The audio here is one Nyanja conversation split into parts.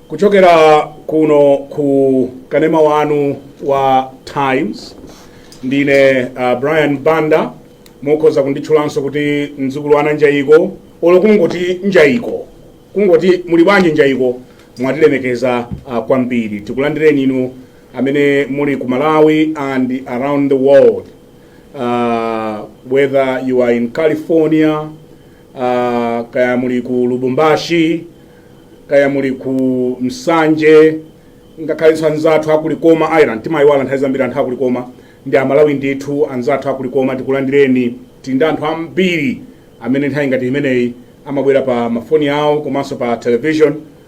kuchokera kuno ku kanema wanu wa times ndine uh, brian banda mukhoza kunditchulanso kuti mdzukulu a Nanjayiko olo kungoti njayiko kungoti muli bwanji njayiko mwatilemekeza uh, kwambiri tikulandireni inu amene muli ku malawi and around the world uh, whether you are in california uh, kaya muli ku lubumbashi kaya muli ku nsanje ngakhalenso anzathu akulikoma ireland timayiwala nthawi zambiri anthu akulikoma ndi amalawi ndithu anzathu akulikoma tikulandireni tili ndi anthu ambiri amene nthawi ngati imeneyi amabwera pa mafoni awo komanso pa television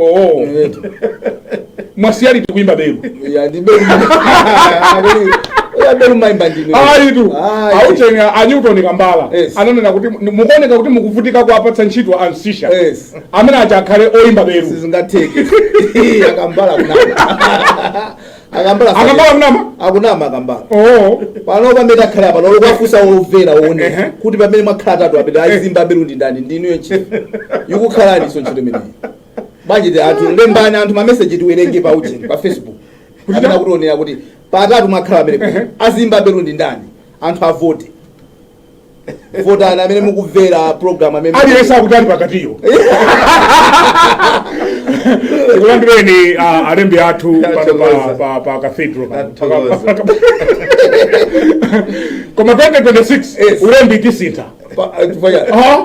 Oh. Eh. mwasiya liti kuyimba belu Ya, ndi belu. Ya, belu ndimaimba ndine. ayitu Ah, eh. aujeni a newton kambala Yes. ananena kuti mu- mukuoneka kuti mukuvutika kuwapatsa ntchito a msiska Yes. amene aja akhale oyimba belu sizingatheke akambala kunama akambala akambala akunama akunama akambala oh pano pamene akhala apa olo kuwafunsa omvera Ehe. aone kuti pamene mwakhala atatu apa amene aziimba belu ndi ndani ndinuyo ntchito yikukhalani so ntchito imeneyi bwanjiti anthu lembani anthu mameseji tiwerenge pa ujeni pa facebook Kuti amene ta- akutionera kuti pa atatu mwakhala amene aziimba belu ndi ndani anthu avote votani amene mukumvera program amene aliyense akuti ali pakatiyo tikulandireni ah, alembi athu pano pa- Athokoza. pa- pa cathedral pano. Athokoza. koma 2026 Yes. ulembi tisintha Pa- eh, chifukwa cha- Ah,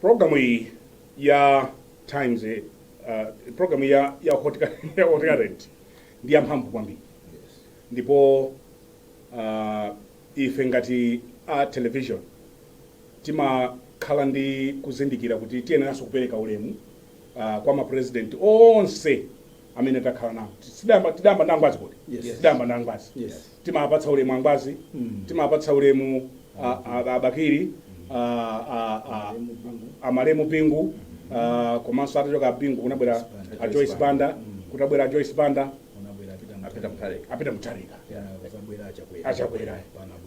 Programu iyi ya Times eh, uh, programu ya ya Hot ya Hot Current ndi yamphamvu kwambiri ndipo uh, ife ngati a television timakhala ndi kuzindikira kuti tiyeneranso kupereka ulemu uh, kwa mapresidenti onse amene takhala nawo tidayamba tidayamba ndi angwazi kodi Yes. tidayamba ndi angwazi Yes. Timawapatsa ulemu a Ngwazi, timawapatsa ulemu a, a, a Bakili, a, a, a, a Malemu Bingu, a, komanso atachoka a Bingu kunabwera a Joyce Banda, kutabwera a Joyce Banda, Apita Mutharika. apita Mutharika, achakwera,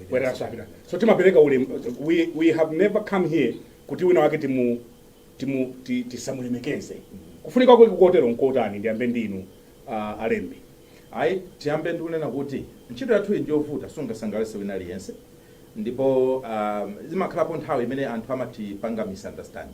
abweranso apita. So timapereka ulemu, we, we have never come here kuti wina wake timu, timu, ti- tisamulemekeze. Kufunika kwake kotero nkotani ndiyambe ndinu a, alembi. Ayi. Tiyambe ndi kunena kuti ntchito yathuyi ndi yovuta, sungasangalatse wina aliyense ndipo umm imakhalapo nthawi imene anthu amatipanga misunderstand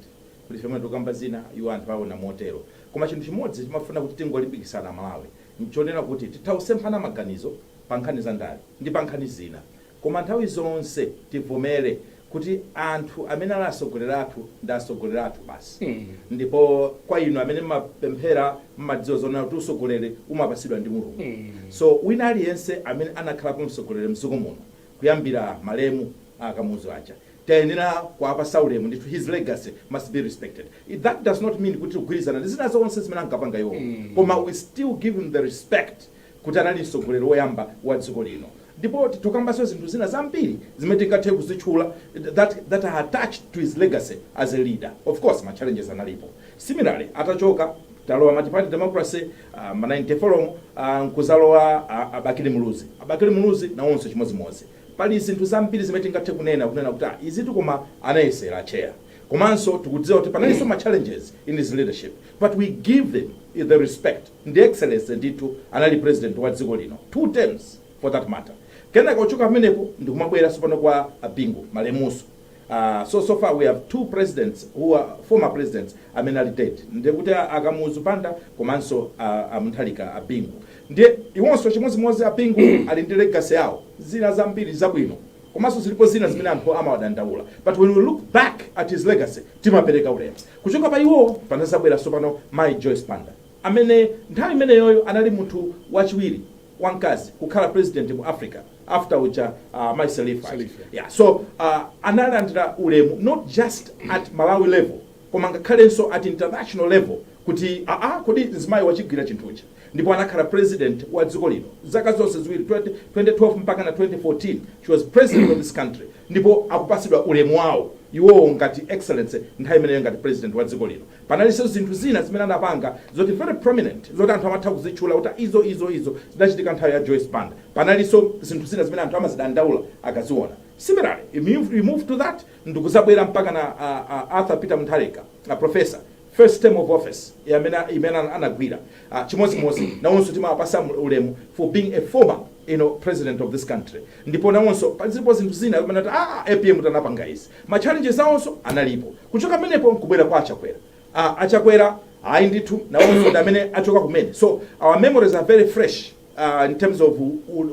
kuti ife mmene tikukamba zina iwo anthu awona motero. Koma chinthu chimodzi timafuna kuti tingolimbikitsana a Malawi nchonena kuti titha kusemphana maganizo pa nkhani za ndale ndi pa nkhani zina. Koma nthawi zonse tivomere kuti anthu amene ali atsogoleri athu ndi atsogoleri athu basi. Ndipo kwa inu amene mmapemphera mmadziwa zonena kuti utsogoleri umapatsidwa ndi Mulungu. So wina aliyense amene anakhalapo mtsogoleri mdziko muno kuyambira malemu a Kamuzu aja tayenera kuwapatsa ulemu ndithu his legacy must be respected. That does not mean kuti tigwirizana ndi zina zonse zimene ankapanga iwo koma we still give him the respect kuti anali mtsogoleri woyamba wa dziko lino ndipo titha kukambanso zinthu zina zambiri zimene tingathe kuzitchula that, that are attached to his legacy as a leader of course ma challenges analipo similarly atachoka talowa multiparty democracy uh, ma 94 mu uh, nkuzalowa uh, a Bakili Muluzi a Bakili Muluzi nawonso chimodzimodzi pali zinthu zambiri zimene tingathe kunena kunena kuti ah, izitu koma anayesera chair komanso tikudziwa kuti panalinso ma challenges in his leadership but we give them the respect ndi excellency ndithu anali president wa dziko lino two terms for that matter kenaka kuchoka pamenepo ndikumabwera tsopano kwa a Bingu malemuso uh, so so far we have two presidents who are former presidents amene ali dead ndiye kuti a- a Kamuzu Banda komanso a- a Mutharika a Bingu ndiye iwonso chimodzimodzi a Bingu ali ndi legacy yawo zina zambiri zabwino komanso zilipo zina zimene anthu amawadandaula but when we look back at his legacy timapereka ulemu kuchoka pa iwo panazabwera tsopano Mai Joyce Banda amene nthawi imeneyoyo anali munthu wachiwiri wamkazi kukhala president mu Africa after uja uh, Mai Sirleaf aja. Sirleaf, yeah. yeah, so uh, analandira ulemu not just at Malawi level koma ngakhalenso at international level kuti aa ah, ah, kodi mzimayi wachigwira chinthuchi ndipo anakhala president wa dziko lino zaka zonse ziwiri 20, 2012 mpaka na 2014 she was president of this country ndipo akupasidwa ulemu wawo iwowo ngati excellency nthawi imeneyo ngati president wa dziko lino Panalinso zinthu zina zimene anapanga zoti very prominent zoti anthu amatha kuzitchula kuti a izo izo izo zidachitika nthawi ya Joyce Banda. Panalinso zinthu zina zimene anthu amazidandaula akaziona. Similarly, we move, we move to that ndikuzabwera mpaka na a, a Arthur Peter Mutharika, a professor first term of office yamene imene ana- anagwira uh, chimodzimodzi nawonso timawapasa mu- ulemu for being a former you know, president of this country ndipo nawonso pa- zilipo zinthu zina zimene ati ah, APM anapanga izi Ma challenges awonso analipo. Kuchoka pamenepo nkubwera kwa a Chakwera. Aaa a Chakwera ayi ndithu nawonso ndi amene achoka kumene so our memories are very fresh aah in terms of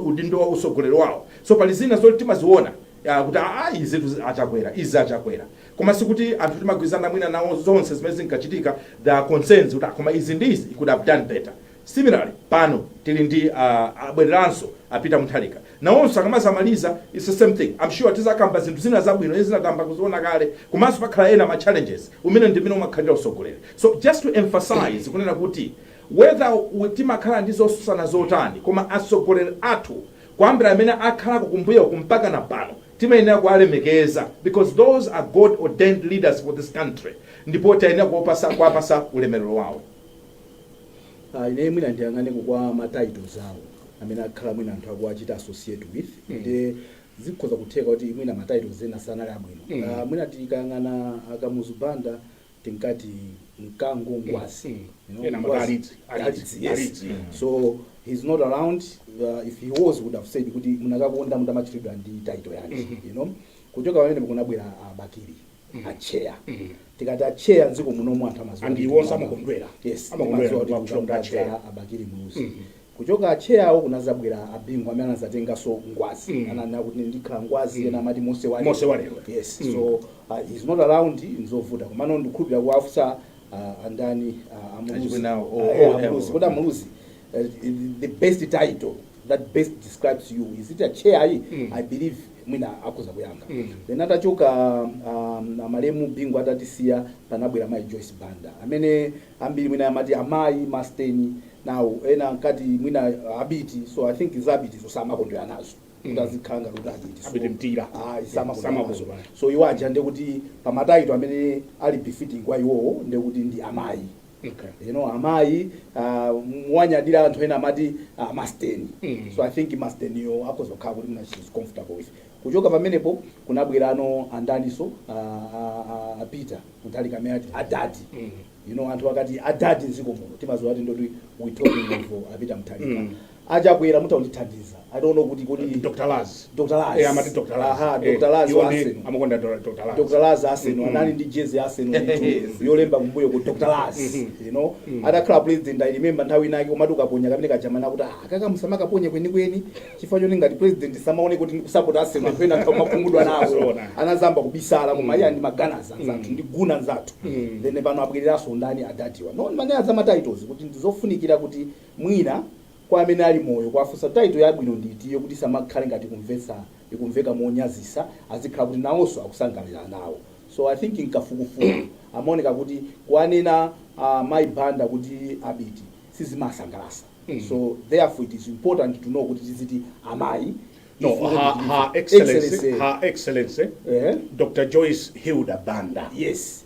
udindo wa utsogoleri wawo so pali zina zoti timaziwona aah kuti aah izitu a Chakwera izi a Chakwera koma sikuti anthu timagwirizana mwina nawo zonse zimene zinkachitika there are concerns kuti aah koma izi ndi izi he could have done better Similarly pano tili ndi abwereranso a Peter Mutharika nawonso akamazamaliza it's the same thing am sure tizakamba zinthu zina zabwino zina tayamba kuziona kale komanso pakhala ena ma challenges umene ndimene umakhalira usogoleri so just to emphasize kunena kuti whether timakhala ndi zosusana zotani koma asogoleri athu kuyambira amene akhalako kumbuyoku mpakana pano timayenera kuwalemekeza because those are God ordained leaders for this country ndipo tayenera kuwapasa ulemelero wawo. Ah, ine mwina ndiyang'aneko kwa ma titles awo amene akhala mwina anthu akuwachita associate with Mm. ndiye zikhoza kutheka kuti mwina ma titles ena sanali abwino Mm. Ah, mwina tikayang'ana a Kamuzu Banda tinkati mkango ngwazi Mm. You know, Ena ngwazi. amati Alidzi. Alidzi, yes. Alidzi. so he's not around uh, if he was would have said kuti munakakonda mutamatchulidwa ndi title yake Mhm. you know kuchoka pamene kunabwera a Bakili atcheya tikati atcheya mdziko munomu anthu amaziwa And ndithu iwonso kuti- amakondwera. yes Amakondwera amaziwa kuti kumakutchula kuti atcheya. a Bakili Muluzi kuchoka atcheyawo kunazabwera a Bingu amene anazatenganso ngwazi Mm. ananena kuti ndikhala ngwazi ena amati Mose walero Mose walero. yes Mm. so uh, he's not around nzovuta komano ndikhulupirira kuwafusa uh, andani uh, a Muluzi Achimwene awo, o- Uh, yeah, o- a Muluzi o- kodi a Muluzi uh, the best title that best describes you is it a chair ayi Mm. i believe mwina akhoza kuyankha Mm. then atachoka um, amalemu Bingu atatisiya panabwera mayi Joyce Banda amene ambiri mwina amati amayi masteni nawo ena ankati mwina abiti so i think za abiti so samakondwera nazo Mm. kuti azikhala ngati kuti abiti so- Abiti Mtila. Ah, Yeah, samakondwera samakondwera. nazo. so iwo aja ndekuti pa ma title amene ali befitting kwa iwowo ndekuti ndi amayi Okay. you know amayi uh, muwanyadira anthu ena amati uh, masteni Mm. so i think masteniyo akhoza kukhala kuti mwina she's comfortable with kuchoka pamenepo kunabwerano andaniso uh, uh, uh, a Peter Mutharika amene ati adadi Mm. you know anthu akati adadi mdziko muno timaziwa kuti ndekuti we're talking of uh, a Peter Mutharika Mm. A Chakwera mutha kundithandiza I don't know kuti kodi Dr Laz Dr Laz eh amati Dr Laz aha Dr Laz wa Arsenal amakonda Dr Laz Dr Laz Arsenal mm -hmm. anali ndi jezi ya Arsenal ndithu yolemba kumbuyoku Dr Laz mm -hmm. you know mm -hmm. atakhala president I remember nthawi inake atamutukaponya kamene kajaka amanena akuti ah kameneka musamakaponye kweni kweni chifukwa choti ngati president asamaoneke kuti akusupport Arsenal pena nthawi makungudwa nawo anazamba kubisala koma iye ndi ma Gunners anzathu ndi Gunner nzathu then pano abwereranso ndani adadiwa no mane za ma titles kuti ndizofunikira kuti Mwina kwa amene ali moyo kuwafunsa title yabwino ndi itiyo kuti isamakhale ngati ikumveka monyazisa azikhala kuti nawonso akusangalala nawo so I think mkafukufuku zimaoneka kuti kuwanena a mayi Banda kuti abiti sizimasangalasa so therefore it is important to know kuti tiziti amayi No, if we her, want to her use- excellency, Excellency. her excellency, Ehe. Dr. Joyce Hilda Banda. yes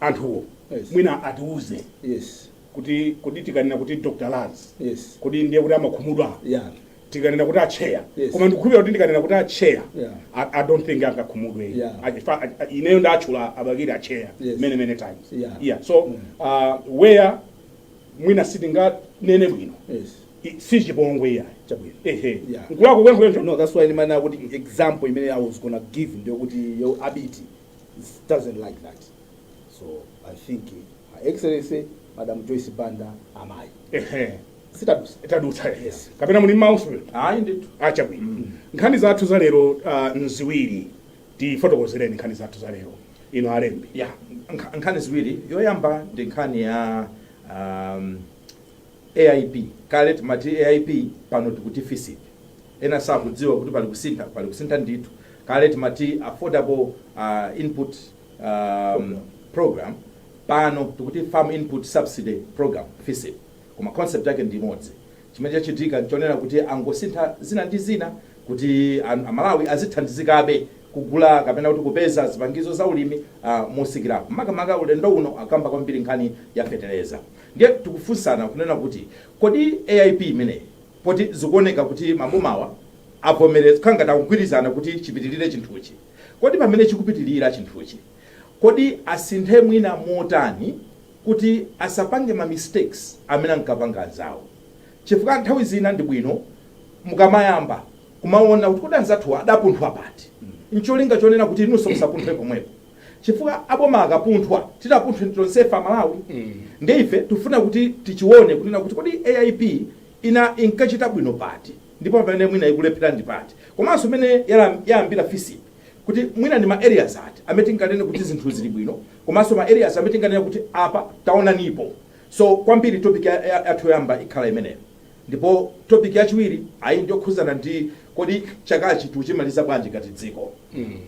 anthuwo Yes. mwina atiuze yes kuti kodi tikanena kuti dr laz yes kodi ndiye kuti amakhumudwa yeah tikanena kuti acheya Yes. koma ndikukhulupira kuti ndikanena kuti acheya Yeah. I, i don't think angakhumudwe Yeah. I- if I- I- ineyo ndatchula abakiri acheya Yes. many many times Yeah. yeah so uh, where mwina sitinganene bwino yes I- si chipongwe iyayi Chabwino. ehe Yeah. nkulakwa kwenikweni so no that's why ndimanena kuti example imene i was gonna give ndiyokuti yo abiti doesn't like that. So I think uh, Her Excellency Madam Joyce Banda amayi. ehe Sitadutsa. tadutsa Yes. kapena muli mmaliso Ayi ndithu. acha bwino nkhani zathu za lero uh, nziwiri tifotokozereni nkhani zathu za lero ino alembi nkha- nkhani ziwiri yoyamba ndi nkhani ya um, AIP, kale timati AIP pano tikuti Fisip, ena sakudziwa kuti pali kusintha ndithu, kale timati Affordable Input Program pano tikuti Farm Input Subsidy Program, Fisip, koma concept yake ndi imodzi, chimene chachitika nchonena kuti angosintha zina ndi zina kuti a Malawi azithandizikabe kugula kapena kuti kupeza zipangizo za ulimi motsikirapo, makamaka ulendo uno akamba kwambiri nkhani ya feteleza. Ndiye tikufunsana kunena kuti kodi AIP imeneyi poti zikuoneka kuti mabomawa avomereza, kukhala ngati akugwirizana kuti chipitirire chinthuchi, kodi pamene chikupitirira chinthuchi, kodi asinthe mwina motani kuti asapange ma mistakes amene ankapanga anzawo? Chifukwa nthawi zina ndi bwino mukamayamba kumaona kuti kodi anzathu adapunthwa pati? N'cholinga chonena kuti inunso musapunthwe pomwepo. chifukwa aboma akapunthwa titapunthwe tonsefe amalawi nde ife tikufuna kuti tichione kunena kuti kodi AIP ina inkachita bwino pati ndipo pamene mwina ikulephera ndi pati komanso mene yala- yayambira fisip kuti mwina ndi ma areas ati amene tinganene kuti zinthu zili bwino komanso ma areas amene tinganene kuti apa taonanipo so kwambiri topic ya- ya- yathu yoyamba ikhala imeneyo Ndipo topic yachiwiri ayi ndiyokhuzana ndi kodi chakachi tikuchimaliza bwanji ngati dziko?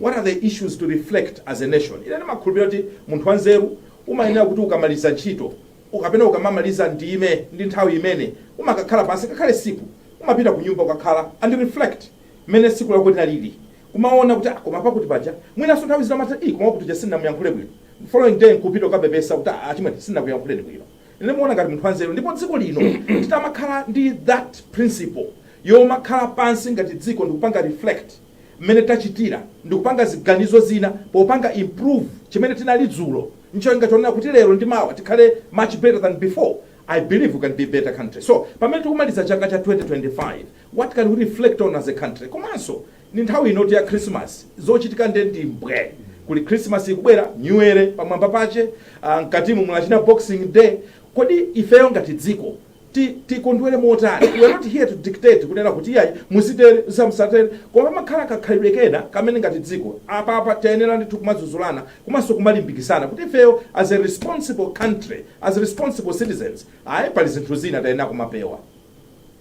What are the issues to reflect as a nation? Ine ndimakhulupilira kuti munthu wanzeru umayenera kuti ukamaliza ntchito kapena ukamamaliza ndime ndi nthawi imene umakakhala pansi ngakhale tsiku umapita kunyumba kukakhala and reflect mmene tsiku lako linalili kumawona kuti ah koma pakuti paja mwinanso nthawi zina umatha ii koma wakuti uja sindinamuyankhule bwino following day nkupita kukapepesa kuti ah achimwene sindinakuyankhuleni bwino. Ine ndimaona ngati munthu wanzeru ndipo dziko lino titamakhala ndi that principle yomakhala pansi ngati dziko ndikupanga reflect mmene tachitira ndikupanga ziganizo zina popanga improve chimene tinali dzulo ncholinga chonena kuti lero ndi mawa tikhale much better than before, I believe we can be a better country. So pamene tikumaliza chaka cha 2025, what can we reflect on as a country komanso Ndi nthawi inotu ya Khrisimasi, zochitika nde ndi mbwe. Kuli Khrisimasi ikubwera, Nyuwere pamwamba pache, ah, mkatimu muli achina Boxing Day. Kodi ifeyo ngati dziko ti tikondwere motani? We are not here to dictate kunena kuti iyayi muzitere, musatere. Koma pamakhala kakhalidwe kena kamene ngati dziko apapa tiyenera ndithu kumadzudzulana komanso kumalimbikitsana kuti ifeyo as a responsible country, as responsible citizens, ayi pali zinthu zina tiyenera kumapewa.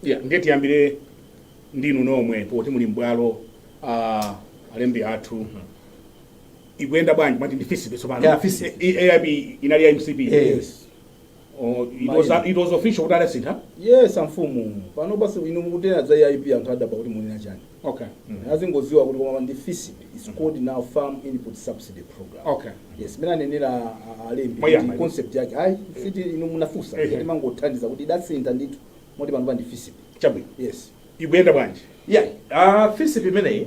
Yeah, ndiye tiyambire ndinu nomwe poti muli m'bwalo ah, alembi athu ikuyenda bwanji mwati ndi FISP tsopano Yeah, FISP. Eh, eh, AIP inali ya MCP Yes. Oh, it was- Maina. it was official kuti adasintha yes amfumu pano basi inu mukanena za AIP anthu adabwa kuti munena chani okay mm. akungodziwa kuti koma ndi FISP is mm. called now farm input subsidy program okay yes mmene anenera alembi uh, yeah, concept yake ayi si eh. inu munafunsa hey, eh, eh. hey. timangothandiza kuti idasintha ndithu moti panopa ndi FISP chabwino yes ikuyenda bwanji yeah ah uh, FISP imeneyi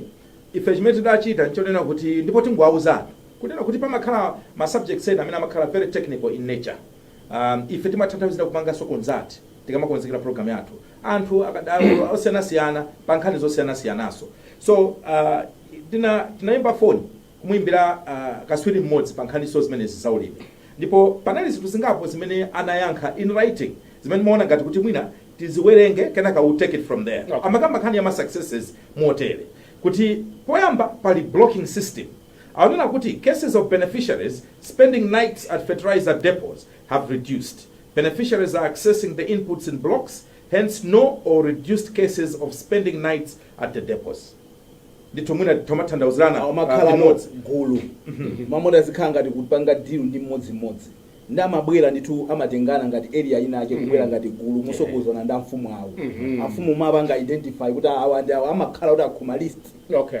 ife chimene tidachita nchonena kuti ndipo tingouzana kunena kuti pamakhala ma subjects ena amene amakhala very technical in nature Um, ife timatha nthawi zina kupanganso consult tikamakonzekera program yathu anthu akadaulo osiyanasiyana pa nkhani zosiyanasiyananso so uh, tina tinayimba foni kumuyimbira uh, katswiri mmodzi pa nkhaninso zimenezi za ulimi ndipo panali zinthu zingapo zimene anayankha in writing zimene ndimaona ngati kuti mwina tiziwerenge kenaka we take it from there Okay. amakamba nkhani ya ma successes motere kuti poyamba pali blocking system akunena kuti cases of beneficiaries spending nights at fertilizer depots have reduced, beneficiaries are accessing the inputs in blocks, hence no or reduced cases of spending nights at the depots. ndithu mwina tizimatanthauzirana amakhala limodzi gulu m'malo moti azikhala ngati kupanga deal ndi mmodzimmodzi nde amabwera ndithu amatengana ngati area inayake kubwera ngati gulu motsogozana ndi amfumu awo amfumu amapanga identify kuti awa ndi awa amakhala kuti akhoma list okay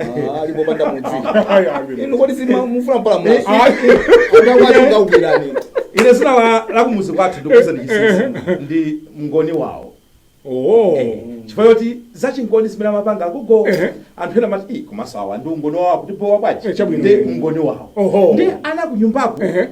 Ah, alipo opanda mudzi Ayi, ayi. inu kodi simufuna mpala mwazi ndakwatingaukirani ine zina la lakumudzi kwathu ndikuuzani chinsinsi ndi mngoni wawo Oh. chifukwa choti zachingoni zimene amapanga agogo Ehe. anthu ena amati "Ih, komanso awa ndi ungoni wawo akutibowa bwanji Eh, chabwino. ndi mngoni wawo Oho. ndi ana kunyumbako Ehe.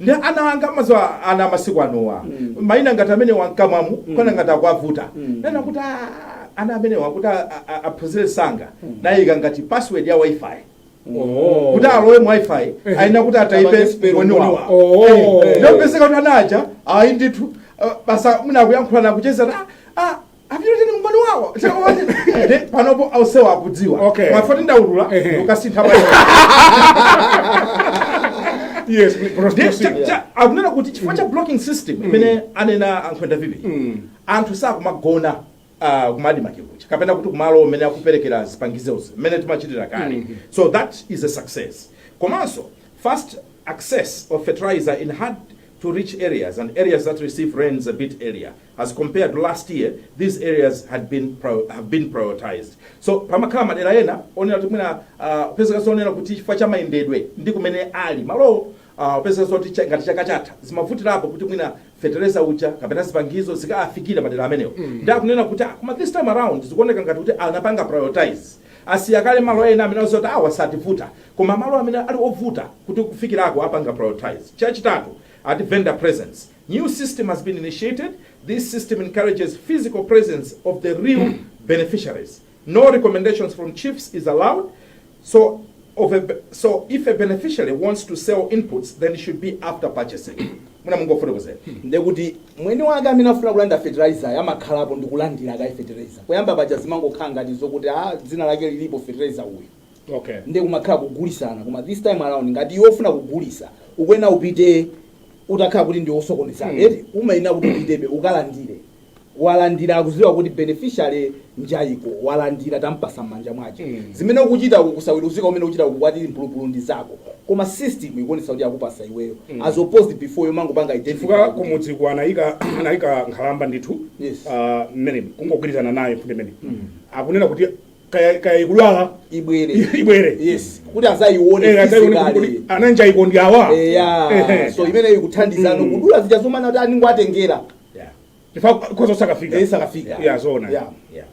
Ndi ana anga mukudziwa ana amasiku anowa mm. maina ngati amenewa mkamwamu mm. kumaona ngati akuwavuta mm. ndinati kuti ah, ana amenewa kuti aphunzire msanga mm. ndinayika ngati password ya wifi oh. kuti alowe mu wifi eh. ayenera kuti ataipe mngoni wawo oh. eh. eh. nde kupezeka kuti anaja ayi ndithu basa mna kuyankhulana kuchezera ah, ah apitetu ndi umboni wawo Ndi panopo ausewa akudziwa Okay. mavoti ndaulula Ehe. ukasintha pa yes Ndi prostitution cha- cha- akunena kuti chifukwa cha blocking system imene anena ankhwenda vivi anthu sakumagona ah, kumadima chikucha kapena kuti kumalo amene akuperekera zipangizozi mmene timachitira kale so that is a success komanso fast access of fertilizer in hard to reach areas and areas that receive rains a bit earlier as compared to last year these areas had been pro, have been prioritized so pamakhala madera ena onena kuti mwina kupezeka zonena kuti chifukwa cha mayendedwe ndi kumene ali malowo kupezeka zoti cha- ngati chaka chatha zimavutilapo kuti mwina fetereza uja kapena zipangizo zikafikire madera amenewo mm. nde akunena kuti ah, koma this time around zikuoneka ngati kuti anapanga prioritize asiya kale malo ena amene ndi oti awa sativuta koma malo amene ali ovuta kuti kufikirako apanga prioritize chachitatu ati vendor presence new system has been initiated, this system encourages physical presence of the real beneficiaries. No recommendations from chiefs is allowed. So, of a, be- so if a beneficiary wants to sell inputs, then it should be after purchasing. Muja mumafotokozera. ndekuti mwene wake amene afuna kulandira fertilizer amakhalapo ndikulandira kaye fertilizer poyamba paja zimangokhala ngati zokuti a dzina lake lilipo fertilizer uyu okay nde kumakhala kugulisana koma this time around ngati iwe ofuna kugulisa ukuyenera upite utakhala kuti ndiwe osokoneza Hmm. eti umayenera kuti upitebe ukalandire walandira akuziwa kuti beneficiary uja iko walandira tampasa m'manja mwace Hmm. zimene ukuchita kusaweruzika kumene ukuchita kukhala mphulupulu ndi zako koma system ikuonesa kuti akupasa iweyo Hmm. as opposed before yomangopanga identity chifukwa kuti- kumudziku anayika anayika nkhalamba ndithu Yes. ah, mmene kungogwirizana nayo kuti mmene akunena kuti kaya kaya ikudwala ibwere ibwere yes kuti azayione Eh, azayione kuti physically. kodi anauje iko ndi awa eya Ehe. so imeneyo ikuthandizanso Mm. kudula zija zomanena kuti anangowatengera Yeah. chifukwa khoza usakafika isakafika ya zona Yeah. Yeah.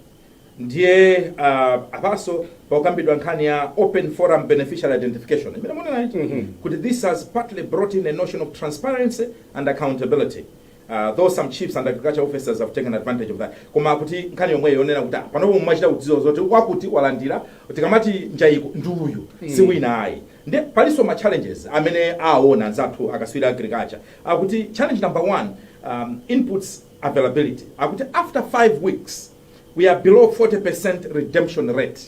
ndiye uh, apanso pakukambidwa nkhani ya open forum beneficiary identification imene munenayi Mhm. kuti this has partly brought in a notion of transparency and accountability Uh, though some chiefs and agriculture officers have taken advantage of that koma kuti nkhani yomweyo yonena kuti ah, panopo mumachita kudziwa zoti wakuti walandira tikamati njayiko ndi uyu mm. si wina ayi nde palinso ma challenges amene aona anzathu akatswiri a agriculture akuti challenge number one um, inputs availability akuti after five weeks we are below 40% redemption rate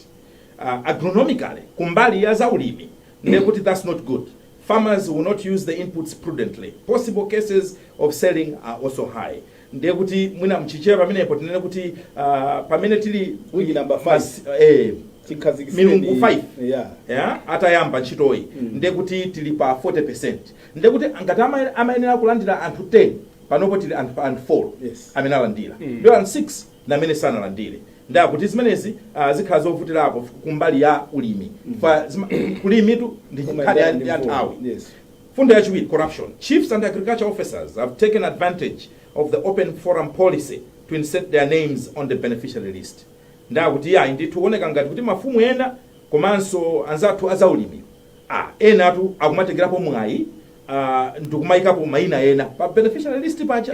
uh, agronomically kumbali ya zaulimi nde kuti that's not good Farmers will not use the inputs prudently, possible cases of selling are also high ndiye kuti mwina mchichewa pamenepo tinene kuti ah, pamene tili Week number five. mas- eh, Chikhazikitseni- milungu 5 Yeah. yeah, atayamba ntchitoyi ndiye kuti tili pa 40 ndiye kuti ngati ama- amayenera kulandira anthu 10 panopo tili anthu anthu 4 Yes. amene alandira ndiye anthu 6 na amene sanalandile nde akuti zimenezi ah, zikhala zovutilapo f- kumbali ya ulimi fa zima- kulimitu ndi nkhani ya- ya nthawi Yes. Mfundo yachiwiri, corruption. Chiefs and agriculture officers have taken advantage of the open forum policy to insert their names on the beneficiary list. Ndakuti yayi ndithu kuoneka ngati kuti mafumu ena komanso anzathu azaulimi. Ah, ena akuti akumatengerapo mwayi ah, ndikumayikapo mayina ena pa beneficiary list paja.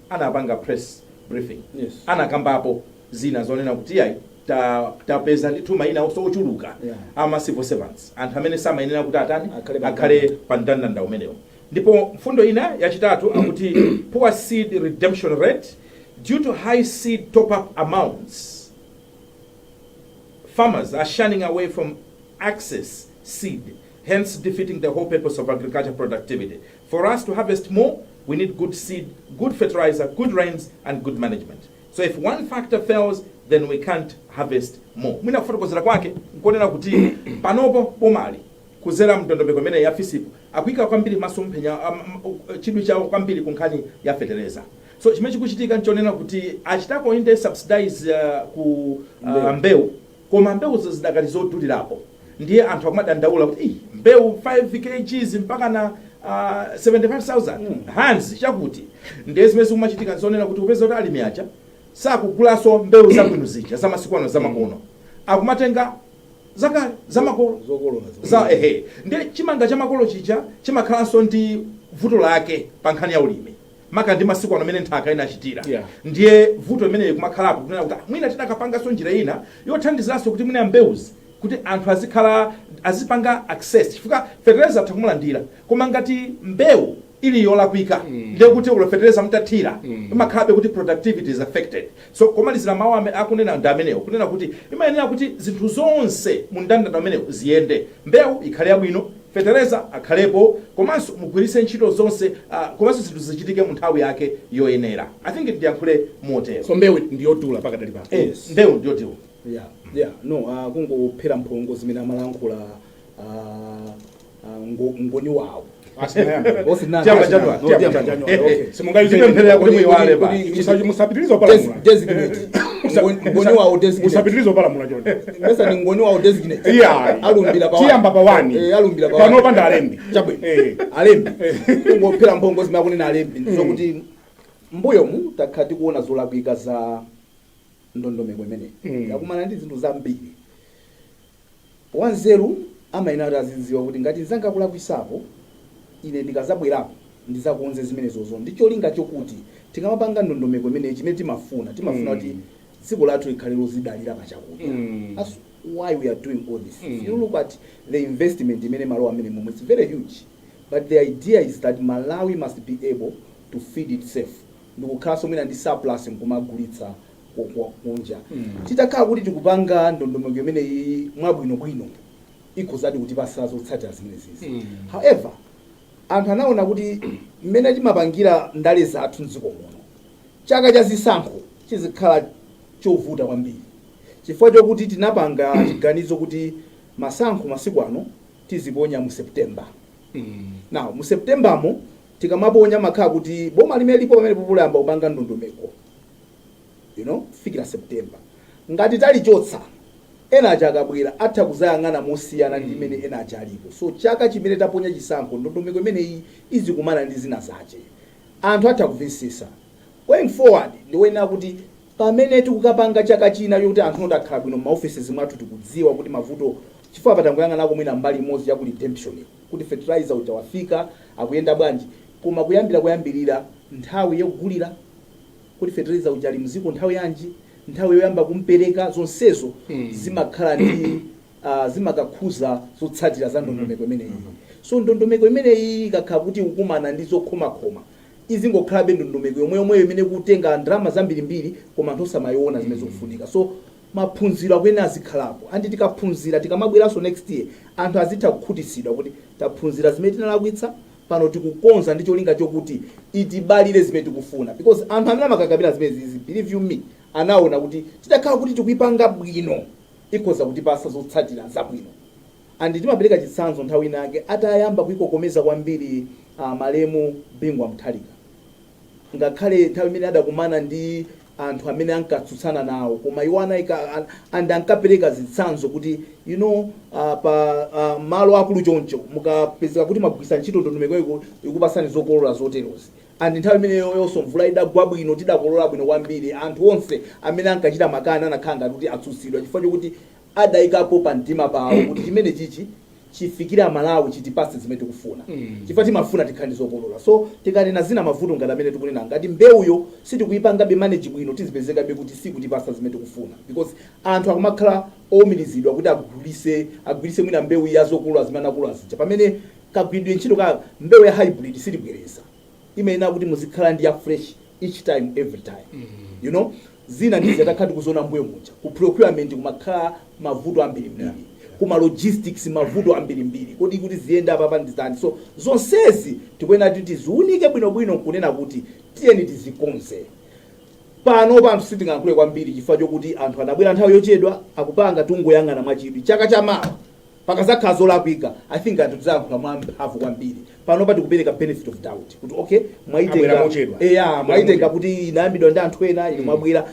anapanga press briefing Yes. anakambapo zina zonena kuti iyayi ta- tapeza ndithu mayina ochuluka Yeah. ama civil servants anthu amene samayenera kuti atani Akhale pa akhale pa mndandanda umenewo ndipo mfundo ina yachitatu akuti poor seed redemption rate due to high seed top up amounts farmers are shunning away from accessing seed, hence defeating the whole purpose of agriculture productivity. For us to harvest more, we need good seed, good fertilizer, good rains, and good management. So if one factor fails, then we can't harvest more. Mwina kufotokozera kwake nkonena kuti panopo bomali kudzera mndondomeko imene ya FISP-yo akuika kwambiri maso mphenya um, um, chidwi chawo kwambiri ku nkhani ya fetereza so chimene chikuchitika nchonena kuti achitako inde subsidize uh, ku uh, Mbewu. mbewu Koma mbewuzo zidakali zodulirapo ndiye anthu akumadandaula kuti iih mbewu 5 kgs mpakana K75,000 handiredi chakuti. Ndiye zimene zikumachitika n'zonena kuti upeza kuti alimi aja sakugulanso mbewu zabwino zija zamasiku ano zamakono. Akumatenga zakale zamakolo. Zokolola zokha. Za ehe. Ndiye chimanga chamakolo chija chimakhalanso ndi vuto lake pankhani ya ulimi. maka ndi masiku ano amene nthaka inachitira Yeah. ndiye vuto limeneli limakhalapo kunena kuti "Ah, mwina tidakapanganso njira ina yothandiziranso kuti mwina mbewuzi kuti anthu azikhala azipanga access chifukwa fetereza atha kumulandira koma ngati mbewu ili yolakwika ndiye kuti olo fetereza mutathira imakhalabe kuti productivity is affected So, komalizira mawu amene akunena ndi amenewo, kunena kuti imayenera kuti zinthu zonse mu ndandanda umenewo ziyende, mbewu ikhale yabwino, fetereza akhalepo, komanso mugwiritse ntchito zonse, ah, komanso zinthu zichitike mu nthawi yake yoyenera. I think ndiyankhule motero. So, mbewu ndi yodula pakadali pano. Eh, Yes. mbewu ndi yodula. Yeah, yeah. No, ah, kungophera mphongo zimene amalankhula ah, ngoni wawo musapitirize opalamula chondealumbirapanopa ndi alembi alembi kungophera mphongo zimene akunena alembi ndizokuti mbuyomu takhala tikuona zolakwika za ndondomeko imeneyi yakumana ndi zinthu zambiri Wanzeru amayenera kuti azidziwa kuti ngati mnzanga akulakwisapo, ine ndikazabwerapo ndizakonze zimenezozo ndi cholinga chokuti tikamapanga ndondomeko imeneyi chimene timafuna, timafuna kuti dziko lathu likhale lozidalira pa chakudya thats why we are doing all this. If you look at the investment imene imalowa mmenemomo its very huge but the idea is that Malawi must be able to feed itself ndikukhalanso mwina ndi surplus nkumagulitsa kunja. Titakhala kuti tikupanga ndondomeko imeneyiyi mwabwinobwino, ikhozadi kutipatsa zotsatira zimenezizi. However, anthu anaona kuti mmene timapangira ndale zathu m'dziko muno, chaka cha zisankho chizikhala chovuta kwambiri chifukwa chokuti tinapanga chiganizo kuti masankho masiku ano tiziponya mu September. Now, mu Septembermo tikamaponya amakhala kuti boma limene lilipo pamenepopo layamba kupanga ndondomeko. you know, kufikira september ngati talichotsa ena aja akabwera atha kuzayang'ana mosiyana ndi imene ena aja alipo so chaka chimene taponya chisankho ndondomeko imeneyi izikumana ndi zina zache anthu atha kumvetsetsa going forward ndiwoyenera kuti pamene tikukapanga chaka china yokuti anthu oti akhala bwino maofeses mwathu tikudziwa kuti mavuto chifukwa apa tangoyang'anako mwina mbali imodzi yaku redemption kuti fertilizer uja wafika akuyenda bwanji koma kuyambira kuyambirira nthawi yogulira kodi fetereza uja ali m'dziko nthawi yanji nthawi yoyamba kumpereka zonsezo zimakhala ndi ah, zimakakhuza zotsatira za ndondomeko imeneyi so ndondomeko imeneyi ikakhala kuti ikukumana ndi zokhomakhoma izingokhalabe ndondomeko yomwe yomweyo imene ikutenga ndalama zambirimbiri koma anthu osamayiona zimene zikufunika so maphunziro akuyenera azikhalapo andi tikaphunzira tikamabweranso next year anthu azitha kukhutitsidwa kuti taphunzira zimene tinalakwitsa pano tikukonza ndi cholinga chokuti itibalire zimene tikufuna because anthu amene amakakamira zimenezizi believe you me anaona kuti titakhala kuti tikuipanga bwino ikhoza kutipasa zotsatira zabwino and timapereka chitsanzo nthawi inake atayamba kuikokomeza kwambiri uh, malemu Bingu wa Mutharika ngakhale nthawi imene adakumana ndi anthu amene ankatsutsana nawo koma iwo anaika and ankapereka zitsanzo kuti you know uh, pa uh, malo akulu choncho mukapezeka kuti mwagwiritsa ntchito ndondomeko ikupasani zokolola zoterozi and nthawi imeneyonso mvula idagwa bwino tidakolola bwino kwambiri anthu onse amene ankachita makani anakhala ngati kuti atsutsidwa chifukwa chokuti adaikapo pa mtima pawo kuti chimenechichi chifikire amalawi chitipatse zimene tikufuna chifukwa timafuna tikhale ndi zokolola so tikanena zina mavuto ngati amene tikunena ngati mbewuyo sitikuipangabe manage bwino tizipezekabe kuti sikutipatsa zimene tikufuna because anthu akumakhala oumirizidwa kuti agwirise mwina mbewu ya zokolola zimene anakolola zija pamene kagwiridwe ntchito ka mbewu ya hybrid sitibwereza imayenera kuti muzikhala ndi ya fresh each time every time you know zina ndizi atakhala tikuziona mbuyo muja ku procurement kumakhala mavuto ambirimbiri kuma logistics mavuto ambirimbiri kodi kuti ziyenda apapa ndizani so zonsezi tikuyenera kuti tiziunike bwinobwino nkunena kuti tiyeni tizikonze panopa anthu sitingalankhule kwambiri chifukwa chokuti anthu anabwera nthawi yochedwa akupanga tungoyang'ana mwachidwi chaka chamawa pakazakhala zolakwika i think anthu tizayankhula mwamphamvu kwambiri panopa tikupereka benefit of doubt kuti okay Abwera mochedwa. eya mwaitenga kuti inayambidwa ndi anthu ena inu mwabwera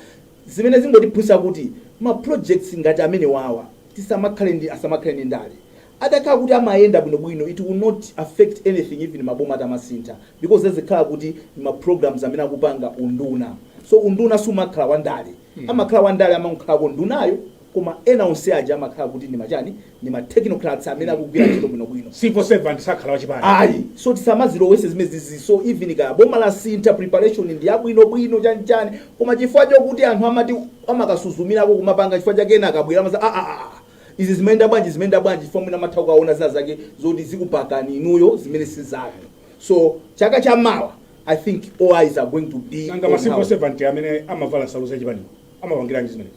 zimene zingotiphunzitsa kuti ma projects ngati amene wawa tisamakhale ndi asamakhale ndi ndale atakhala kuti amayenda bwinobwino it will not affect anything even maboma atamasintha because zizikhala kuti ma programs amene akupanga unduna so unduna sumakhala wandale amakhala wandale amakhalako ndunayo Koma ena onse aja amakhala kuti ndi ma chani, ndi ma technocrats amene akugwira ntchito bwino bwino. Civil servant sakhala wa chipani. Ayi. So tisamazilowese zimenezizi. So even kaya boma lasintha, preparation ndi ya bwino bwino, chani chani, koma chifukwa chokuti anthu amati amakasuzumirako kumapanga chifukwa chake ena akabwera amati aah izi zimayenda bwanji, zimayenda bwanji chifukwa mwina amatha kukawona zina zake zoti zikupakani inuyo zimene si zanu. So chaka cha mawa I think all eyes are going to be on how. Nanga ma civil servant amene amavala nsalu za chipaniwo amapangiranji zimenezo?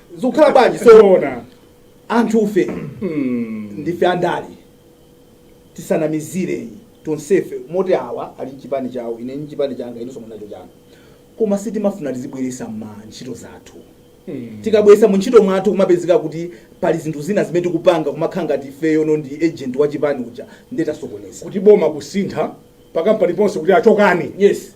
zikukhala bwanji so Zoona. anthufe Mm. ndife andale tisanamizire tonsefe moti awa ali mchipani chawo ine mchipani changa inenso ndili nacho changa koma sitimafuna tizibweresa mu ntchito zathu Mm. tikabweresa mu ntchito mwathu kumapezeka kuti pali zinthu zina zimene tikupanga kumakhala ngati ifeyono ndi agent wa chipani uja ndiye tasokoneza kuti boma kusintha pakampani ponse kuti achoke yes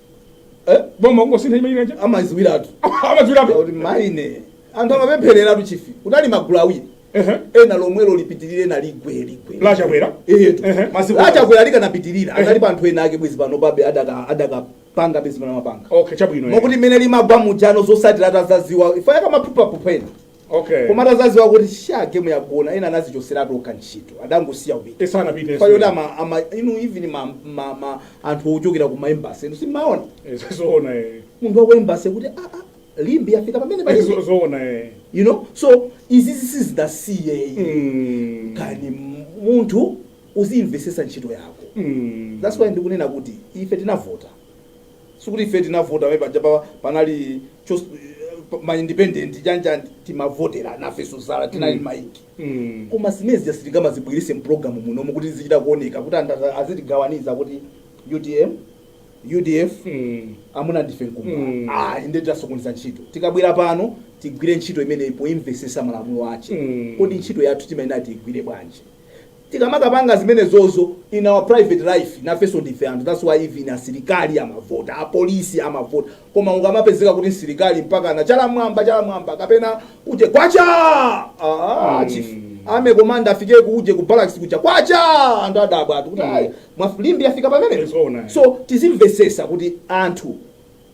Eh? boma kungosintha chimenechi amaziwiratu amadziwiratu kuti maine anthu amapemphereratu chifi kunali magulu awiri Ehe. ena lomwelo lipitirire ena ligwe ligwe la Chakwera Eyetu. Ehe. Masiku La Chakwera likanapitirira Ehe. anali pa anthu ena ake bwezi pano pabe adaka- adakapanga bezi pano mapanga okay chabwino eh. mokuti mmene limagwa mujano zotsatira atazaziwa imfa yakumaphuphaphupha ena Okay. koma atazaziwa kuti shaa game yagona ena anazichoseratu okha ntchito adangosiya kupita Esa anapita. payoti ama, ama inu even ma, ma, ma, anthu ochokera ku ma embassy inu simaona Esa zoona eh. munthu wa ku embassy kuti ah, ah, limbi yafika pamene Esa palibe zoona eh. you know so izizi tizisiye Mm. kani munthu uzimvesesa ntchito yako Mm. that's why ndikunena kuti ife tinavota sikuti ife tinavota pamene paja pa, panali chos, pa- ma independent panja timavotera nafenso zala tinali mm. maiki Mm. koma zimenezi sitingamazibwerese mpulogalamu munomu kuti zizichita kuoneka kuti anthu aza- azitigawaniza kuti UTM UDF Mm. amuna ndife Nkumba Mm. ah ndiye tasokoneza ntchito tikabwera pano tigwire ntchito imeneyi poimvesesa malamulo ache Mm. kodi ntchito yathu timayenera tigwire bwanji tikamakapanga zimenezozo in our private life nafenso ndife anthu that's why even asilikali amavota apolisi amavota koma ukamapezeka kuti msilikali mpaka na chala m'mwamba chala m'mwamba kapena uje kwacha ah, chief ame komanda afike kuuje ku barracks kuja kwacha anthu adabwa ati kuti ayi mwalimbi afika pamenepo Zoona. so tizimvesesa kuti anthu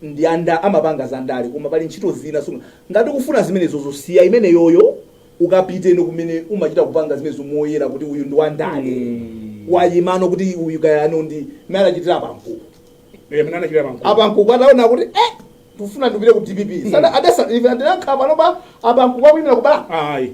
ndi a nda amapanga za ndale koma pali ntchito zina so ngati ukufuna zimenezozo siya imeneyoyo ukapite no kumene umachita kupanga zimenezo zomoyera kuti uyu ndi wa ndale wayimano kuti uyu kayano ndi mmene anachitira a Nankhumwa Eh, mmene anachitira a Nankhumwa. a Nankhumwa ataona kuti eh ndikufuna ndipite ku dpp sada adasa even adinakhala panopa a Nankhumwa akuyimira kubala Ayi.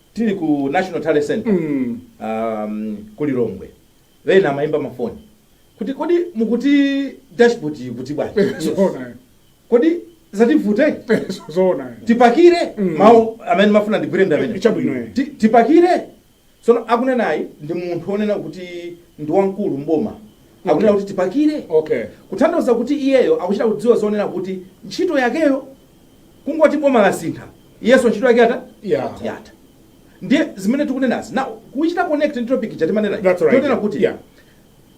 Tili ku National Talent Centre um ku Lilongwe ena amaimba mafoni kodi mukuti dashboard ili kuti bwana? Zoona eh. Kodi zativuta eti? Eh, zo- zoona eh. Tipakire Mm. mawu amene ndimafuna ndigwire ndi amene. Chabwino eh. Ti- Tipakire. Sono akunenayi ndi munthu onena kuti ndi wamkulu mboma. Akunena kuti tipakire. Okay. Kutanthauza kuti iyeyo akuchita kudziwa zonena kuti ntchito yakeyo kungoti boma lasintha iyenso ntchito yake yatha Yeah. yatha ndiye zimene tikunenazi now kuchita connect ndi topic ija timanena That's right. timanena kuti Yeah.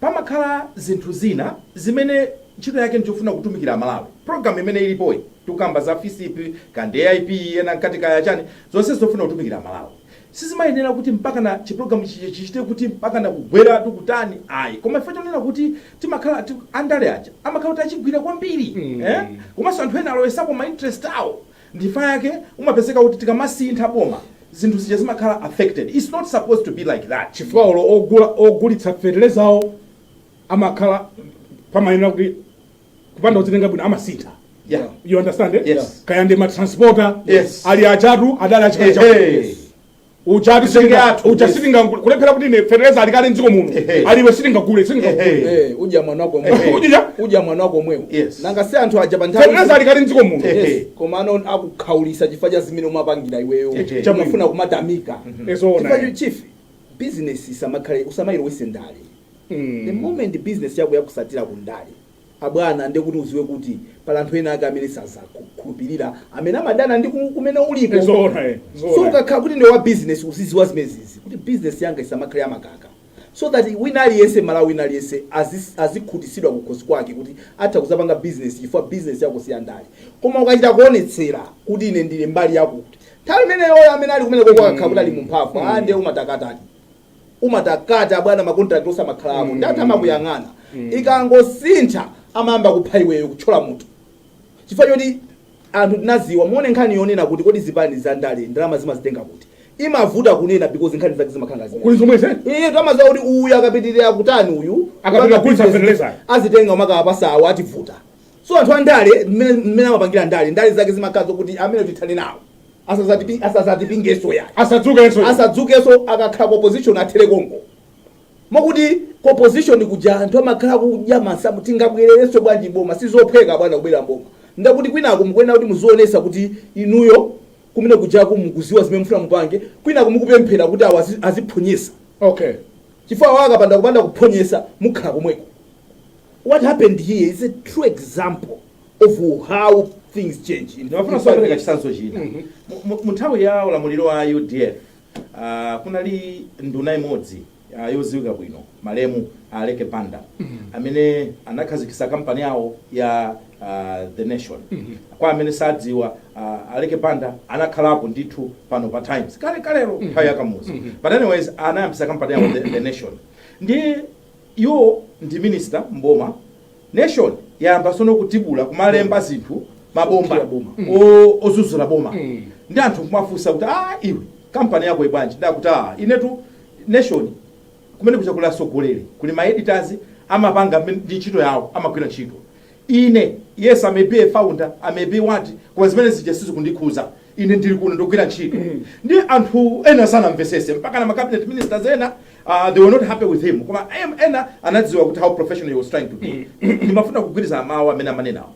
pamakhala zinthu zina zimene ntchito yake ndichofuna kutumikira amalawi program imene ilipoyi tikukamba za fisp kaya ndi aip ena mkati kaya chani zonse zofuna kutumikira amalawi Sizimayenera kuti mpakana chiprogram chija chichite kuti mpakana kugweratu kutani ayi koma chifukwa chonena kuti timakhala ti, andale aja amakhala kuti achigwira kwambiri eh? komanso anthu ena alowesapo ma interest awo ndichifukwa chake umapezeka kuti tikamasintha boma zinthu zija zimakhala affected, its not supposed to be like that. chifukwa olo ogula, ogulitsa fetelezawo amakhala pamayenera kuti kupanda kudzitenga bwino amasintha Yeah. you understand eh? Yes. kaya ndi matransporter Yes. ali achatu adali achikale cha Ehe. uchati Zenge sitinga athu, ucha yes. sitinga kulephera kuti ne fertilizer alikale mdziko muno Ehe. aliwe sitinga gule sitinga gule Ehe. Eh, udya mwana wako Ehe. omwewo Udya? udya mwana wako omwewo Yes. nanga si anthu aja pa fertilizer nthawi alikale mdziko muno Ehe. Yes, komano akukhaulisa chifukwa cha zimene umapangira iweyo Ehe. chamafuna kumatamikira Ezoona, Chifukwa eh. chief business isamakhale usamayilowese ndale The moment business yako yakusatira ku ndale abwana nde kuti uziwe kuti pali anthu ena ake amene sazakukhulupilira amene amadana ndi ku- kumene uliko Zoona, eh, zoona. so ukakhala kuti ndiwe wa business uziziwa zimezizi kuti business yanga isamakhale yamakaka so that wina aliyense m'Malawi wina aliyense azi- azikhutisidwa kukhosi kwake kuti atha kuzapanga business chifukwa business yako si yandale koma ukachita kuonetsera kuti ine ndili mbali yakuti nthawi imeneyoyo amene ali kumene koko akakhala kuti ali mumphamvu mm. ande umatakatani umatakata abwana ma contract osamakhala awo ndi anthu amakuyang'ana ikangosintha amayamba kupha iweyo kuthyola mutu chifukwa choti anthu tinaziwa muone nkhani yonena kuti kodi zipani za ndale ndalama zimazitenga kuti imavuta kunena because nkhani zake zimakhala ngazimene kuli zomwe zeni iye timaziwa kuti uyu akapitirira kutani uyu Akapita Akapita kugulitsa business, fertilizer. azitenga akawapasa awo ativuta So anthu andale mmene amapangira ndale ndale zake zimakhala zokuti amene tithane nawo asazatipingeso yayi asadzukeso akakhala opposition athere konko mokuti opposition kuja anthu amakhala kudya masamu tingabwererenso bwanji boma sizophweka bwana kubwera mboma ndakuti kwinako mukuyenera kuti muzionesa kuti inuyo kumene kujaku mukuziwa zimene mukufuna mupange kwinako mukupemphera kuti awa aziphonyetsa okay chifukwa awa akapanda kupanda kuphonyesa mukhala komweko what happened here is a true example of how things change ndimafuna nso kupereka chitsanzo china Mu- mu- mu nthawi ya ulamuliro wa udf ah, kunali nduna imodzi ah, yodziwika bwino malemu aleke banda amene anakhazikitsa kampani yawo ya ah, the nation kwa amene sadziwa ah, aleke banda anakhalapo ndithu pano pa times kale kalero nthawi ya kamuzu but anyways anayambisa kampani yawo the, the nation ndi Iwo ndi minister m'boma nation yayamba sono kutibula kumalemba zinthu mabomba ozuzula boma ndi anthu kumafunsa kuti aah iwe company yako ibwanji ndi akuti aah inetu nation kumene kuja kuli atsogoleri kuli ma editors amapanga ndi ntchito yawo amagwira ntchito Ine, yes, I may be a founder, I may be what, koma zimene zija sizikundikhuza. Ine ndili kuno ndikugwira ntchito. Ndiye anthu ena sanamvesese, mpaka na ma cabinet ministers ena, uh, they were not happy with him. Koma em- ena anadziwa kuti how professional he was trying to be. Ndimafuna kugwirizana nawo mawu amene amanenawo.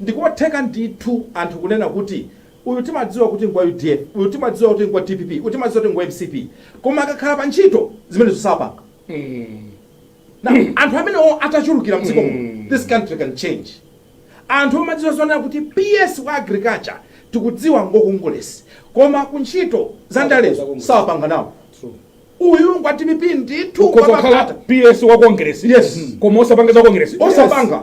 Ndikotheka ndithu anthu kunena kuti uyu timadziwa kuti ngwa UDF, uyu timadziwa kuti ngwa DPP, uyu timadziwa kuti ngwa MCP. Koma akakhala pa ntchito zimene izo sapanga. Now, anthu amenewo atachulukira mdziko muno this country can change anthu omadziwa zonena kuti ps wa agriculture tikudziwa ngwa kongeresi koma kuntchito za ndalezo sapanga nawo uyu ngwa dpp ndithu ukhoza kukhala wapakata. ps wa kongeresi Yes. koma osapanga za kongeresi osapanga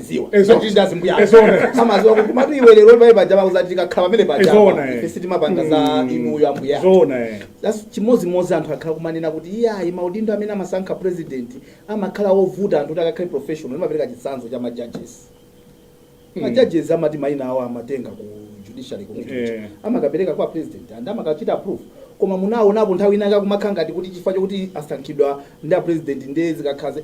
amaziwa Ezo- Izo tili ndi azimbuya athu. Ezona. amaziwa kuti matu iwe lero pamene paja pauza tikakhala pamene paja Ezona, apa, eh. ife sitimapanga za Mm. inuyo ambuya athu. zoona eh. That's chimodzimodzi anthu akhala kumanena kuti iyayi maudindo amene amasankha president amakhala ovuta anthu kuti akakhale professional ndimapereka chitsanzo cha majudges Mm. majudges amati maina awo amatenga ku judiciary committee Eh. amakapereka kwa president and amakachita approve koma munaonapo nthawi inayake kumakhala ngati kuti chifukwa chokuti asankhidwa ndi a president ndiye zikakhaze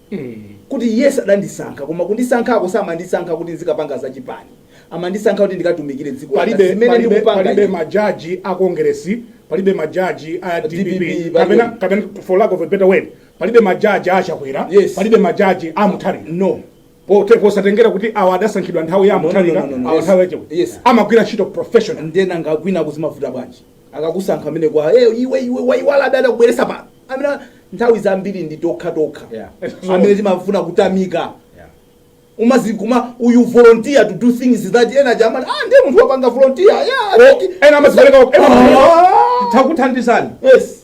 kuti iye sadandisankha koma kundisankhako samandisankha kuti nzikapanga za chipani amandisankha kuti ndikatumikire dziko palibe majaji a Congress palibe majaji a DPP, kapena for lack of a better word palibe majaji a chakwera palibe majaji a mutharika no posatengera kuti awa adasankhidwa nthawi ya mutharika awa nthawi ya chakwera Yes. amagwira ntchito professional nde nanga kwinaku zimavuta bwanji akakusankha amene iwe waiwala amene anakubweresa pano amene nthawi zambiri ndi tokha tokha Yeah. amene timafuna kutamika Yeah. umazikhoma uyu volunteer to do things that ena jamani ah ndiye munthu wapanga volunteer yeah I think- ena amazipereka Ah. takuthandizani yes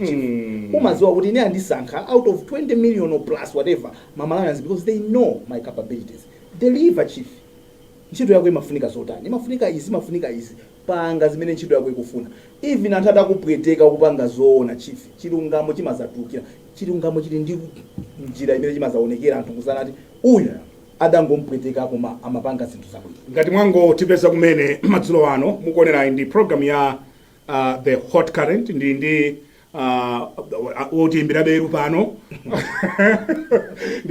mm. umaziwa kuti ine andisankha out of 20 million or plus whatever ma malawians because they know my capabilities deliver chief ntchito yako imafunika zotani imafunika izi imafunika izi panga zimene ntchito yako ikufuna even anthu atakupweteka kupanga zoona chief chilungamo chimazatukira chilungamo chili ndi njira imene chimazaonekera anthu kuzanena ati uyu adangompweteka koma amapanga zinthu zabwino ngati mwangotipeza kumene madzulo ano mukuonerayi ndi program ya the hot current ndili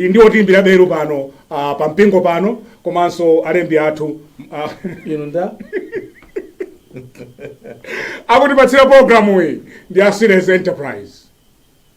ndi otiyimbira beru pano ah, pa mpingo pano komanso alembi athu ah, inu nda akutipatsira programu iyi ndi a serious enterprise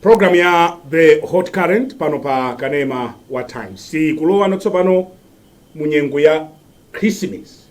program ya the hot current pano pa kanema wa times tikulowano tsopano mu nyengo ya christmas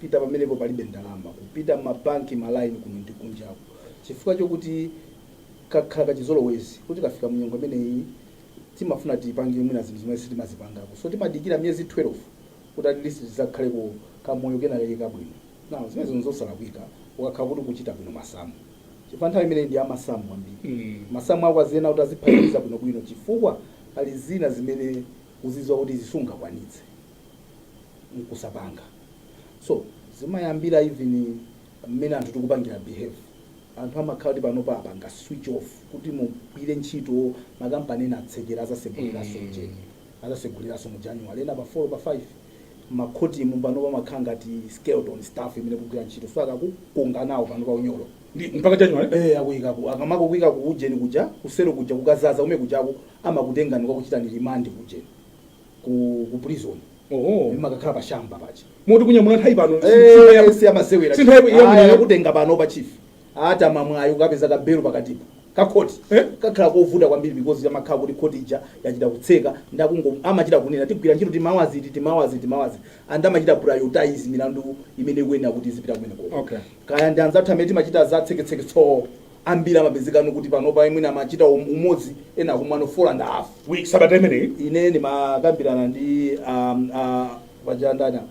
pita pamenepo palibe ndalama, kupita m'mabanki, ma line kuno ndi kunjaku, chifukwa chokuti kakhala kachizolowezi koti tikafika mu nyengo imeneyi timafuna tipange mwina zinthu zimene sitimazipangako, so timadikira miyezi 12 kuti at least tizakhaleko kamoyo kenakake kabwino. Now zimenezo nzosalakwika ukakhala kuti ukuchita bwino masamu, chifukwa nthawi imeneyi ndi ya masamu ambiri, masamu ako aziyenera kuti aziphatikiza bwinobwino chifukwa pali zina zimene uzidziwa kuti izi sungakwanitse. nkusapanga so zimayambira even mmene anthu tikupangira behave anthu amakhala kuti pano pa apanga switch off kuti mugwire ntchito makampani ena atsekera azaseguliraso Mm. ujeni azaseguliraso mu january ena pa 4 pa 5 makhotimu pano pamakhala ngati skeleton staff imene ikugwira ntchito so akakukonganawo panopa unyolo Ndi- mpaka january Eh, akuyikapo akamakakuyika ku ujeni kuja ku selo kuja kukazaza ume kujako amakutengani kukakuchitani limandi ku ujeni ku ku prison oho makakhala pa chamber paja moti kunyamula nthawi pano Eh, si amasewera si nthawi ya Aya, mlimi. akutenga pano pa chief ataya mwayi okapeza ka belo pakatipa kakhoti Eh? kakhala kovuta kwambiri because amakhala kuti khoti ija yachita kutseka ndakungo- amachita kunena tigwira ntchito tima hours iti tima hours tima hours and amachita prioritize milandu imene ikuyenera kuti izipita kumeneko Okay. kaya ndi anzathu amene timachita za tseketseke tsoo ambiri amapezekano kuti panopa mwina amachita um, umodzi ena akumwa 4 and a half week sabata imeneyi ine ndimakambirana ndi um, uh, pajandana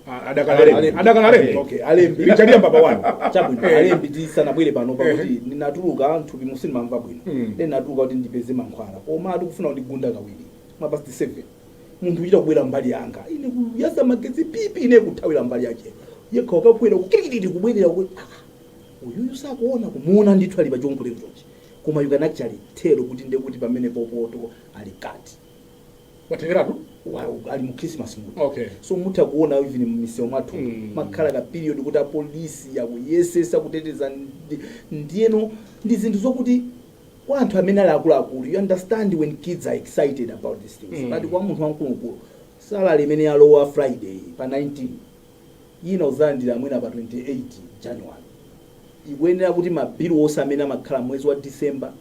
Ah, adakali Alembi. alembi adakali alembi Okay, alembi. richard yamba pa wanu chabwino Eh. alembi tisanabwere pano pakuti ndinatuluka nthupi mu sinimamva bwino Mm. then natuluka kuti ndipeze mankhwala koma atikufuna kuti gunda kawiri mapasti seven munthu kuchita kubwera mbali yanga ine kuyasa magetsi pipi ine kuthawira mbali yache yekha akabwera kukirikiriti kubwerera ku- ah, uyuyu sakuona kumuona ndithu ali pa chiongolero chonchi koma you can actually tell kuti ndiye kuti pamenepo poti ali kale watheratu Wa- ali mu christmas mood okay so mutha kuona even mmisewu mwathu Mm. makhala ka period kuti apolisi akuyesetsa kuteteza ndi- ndiyeno ndi zinthu zokuti kwa anthu amene ali akuluakulu you understand when kids are excited about these things Mm. but kwa munthu wamkuluwamkulu salary imene yalowa friday pa 19 ina udzalandira mwina pa 28 January, ikuyenera kuti ma bill onse amene amakhala m'mwezi wa December,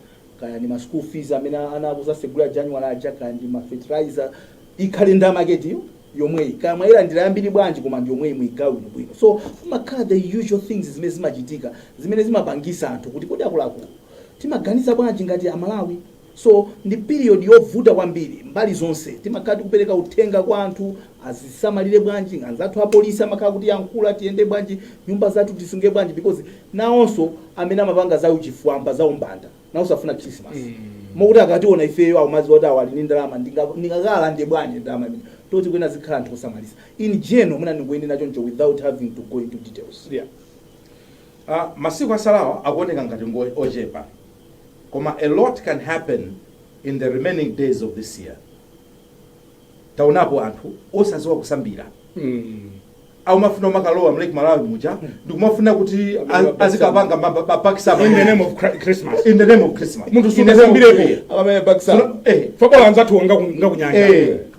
kaya ndi ma school fees amene ana akudzasegulira January aja, kaya ndi ma fertilizer, ikhale ndalama yake ndi yomweyi. Kaya mwayilandira yambiri bwanji koma ndiyomweyi muyigawe bwinobwino. So kumakhala the usual things zimene zimachitika zimene zimapangisa anthu kuti kodi akuluakulu timaganiza bwanji ngati a Malawi? So ndi period yovuta kwambiri mbali zonse timakhala tikupereka uthenga kwa anthu azisamalire bwanji anzathu apolisi amakhala akutiyankhula tiyende bwanji nyumba zathu tisunge bwanji because nawonso amene amapanga za uchifwamba za umbanda nawonso afuna christmas mokuti akationa ifeyo akumadziwa kuti awa ali ndi ndalama ndinga- ndingakalande bwanji ndalama imene tikuyenera tizikhala anthu osamalitsa in general mwina ndingonena choncho without having to go into details Yeah. Ah, masiku atsalawa akuoneka ngati ngo ochepa koma a lot can happen in the remaining days of this year taonapo anthu osaziwa kusambira akumafuna kumakalowa mlake malawi muja ndikumafuna kuti a- azikapanga mapakisama in the name of Chri- christmas in the name of christmas munthu In the name of- sunasambirepo akamenye mapakisama Eh. pajatu anzathu ngakunyanja Eh.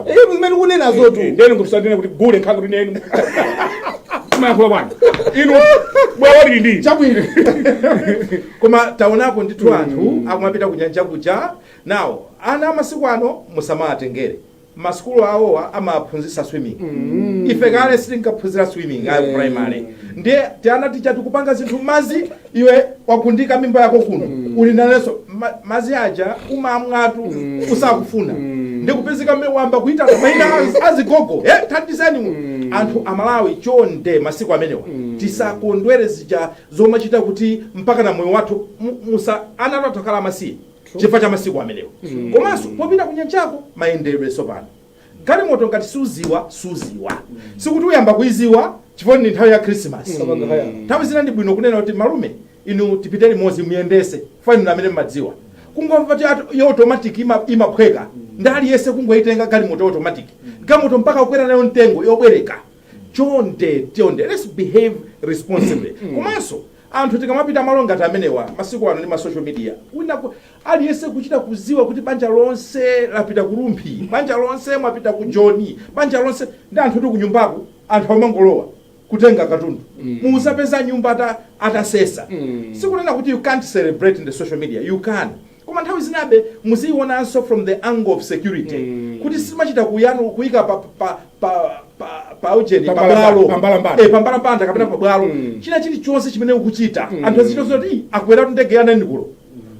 Inu zimene mukunenazotu. Ndeni ngumsatene kuti gule nkha kuti neni. Kumayankhula bwana. Inu bwawa lili ndi. Chabwino. Koma taonako ndithu hmm. anthu akumapita kunyanja kuja. Nawo ana amasiku ano musamawatengere. masukulu awowa amaphunzisa swimming mm. ife kale sitinkaphunzira swimming ayo mm. primary ndiye tiana itichi tikupanga zinthu mmazi iwe wagundika mimba yako kuno uli nalenso ma- madzi aja umamwatu usakufuna ndikupezeka mmene wayamba kuita maina az- azigogo e thandizeni mu anthu amalawi chonde masiku amenewa tisakondwere zija zomachita kuti mpaka na moyo wathu mu- musa ana athu atsakhala amasiye chifukwa cha masiku amenewa komanso popita kunyanjako mayendedwe sopano Galimoto ngati suziwa suziwa sikuti uyamba kuiziwa chifukwa ndi nthawi ya Christmas. Kapanga haya. Nthawi zina ndi bwino kunena kuti malume inu tipite limodzi muyendetse chifukwa inu amene mmadziwa. Kungomva kuti ati yo automatic ima, imaphweka ndi aliyense kungoitenga galimoto ya automatic. Galimoto mpaka kukwera nayo mtengo yobwereka. Chonde chonde let's behave responsibly. Komanso anthu tikamapita malo ngati amenewa masiku ano ndi ma social media wina ku- Aliyense kuchita kuziwa kuti banja lonse lapita ku Rumphi, banja lonse mwapita ku Joni, banja lonse ndi anthu oti kunyumbako anthu amangolowa kutenga katundu mudzapeza nyumba ata atasesa sikunena kuti you can't celebrate in the social media you can koma nthawi zinabe muziionanso from the angle of security kuti simachita kuyanu kuyika pa pa pa pa pa ujeni pa Pambalamba- bwalo pambalambanda. Eh, pambalambanda kapena pa bwalo china chilichonse chimene ukuchita anthu azichita zoti akweratu ndege ya nanikulo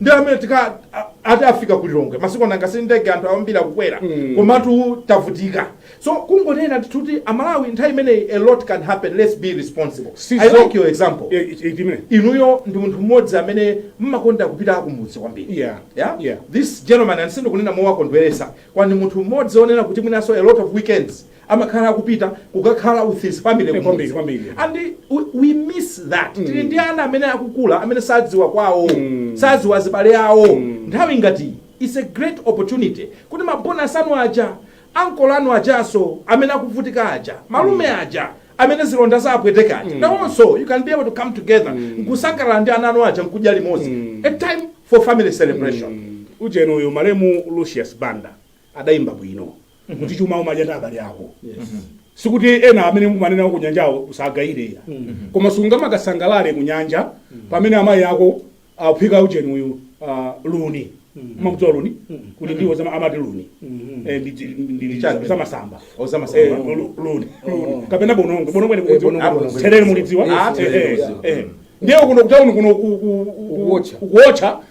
ndi amene tika a- ati afika ku lilongwe masiku ano nanga si ndege anthu ayambira kukwera Mm. komatu tavutika so kungonena kuti amalawi nthawi imeneyi a lot can happen let's be responsible So i so- like your example Eh, eh, eh, timene. inuyo ndi munthu mmodzi amene mmakonda kupita kumudzi kwambiri Yeah. Yeah? Yeah. this gentleman sindikunena mowakondweresa koma ndi munthu mmodzi onena kuti mwinaso a lot of weekends amakhala akupita kukakhala with his family eh, kwambiri, kwambiri. and we, we miss that mm. tili ndi ana amene akukula amene sadziwa kwawo mm. sadziwa zibale awo mm. nthawi ngati it's a great opportunity kuti mabonus anu aja ankolo anu ajaso amene akuvutika aja malume mm. aja amene zilonda zawapweteka aja mm. nawonso you can be able to come together mm. nkusangalala ndi ana anu aja nkudya limodzi mm. a time for family celebration mm. ujeni uyu malemu lucius banda adayimba bwino kuti chuma umadya ndi abale ako sikuti ena amene umamwa nawo ku nyanjawo usawagayire koma sungamakasangalale ku nyanja pamene amayi ako aphika ujeni uyu ah, luni umakudziwa luni kuti ndiwo zama- amati luni Eh, ndi- ndi- ndi- ndi- Chake. zamasamba Ozamasamba. Eh, lu- luni luni kapena bonongo bonongo ni Eh, bonongo, bonongo. therere mulidziwa Yes, Eh, eh, yes. eh. ndiye kuno kutauni kuno ku- ku- ku- Ukuwotcha. ukuwotcha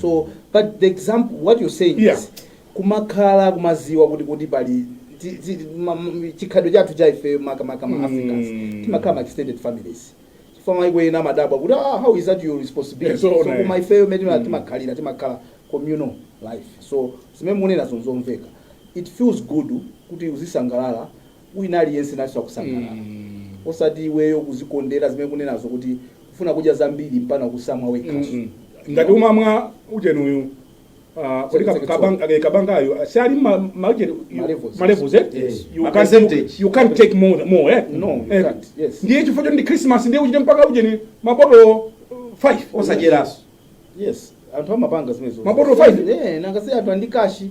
so but the example what you're saying Yeah. is kumakhala kumaziwa kuti kuti pali ti- ti- ma- m- chikhalidwe chathu cha ifeyo makamaka ma africans Mm. timakhala ma extended families chifukwa maiko ena amadabwa kuti ah, how is that your responsibility Yes, so so right. koma ifeyo mene mm. timakhalira timakhala communal life so zimene mukunena zonzomveka it feels good kuti uzisangalala wina aliyense nayenso akusangalala mm. osati iweyo kuzikondera zimene kunenazo kuti kufuna kudya zambiri mpaka kusamwa wekhaso mm -hmm. ngati umamwa ujeni uyu Ah, kodi eh, kabangayo ah, siali malevels eh? you can't take more more eh no eh, yes ndiye chifukwa ndi christmas ndiye uchite mpaka uje ni mabotolo 5 osajeranso yes anthu amapanga zimenezo mabotolo 5 eh nanga si anthu ali ndi kashi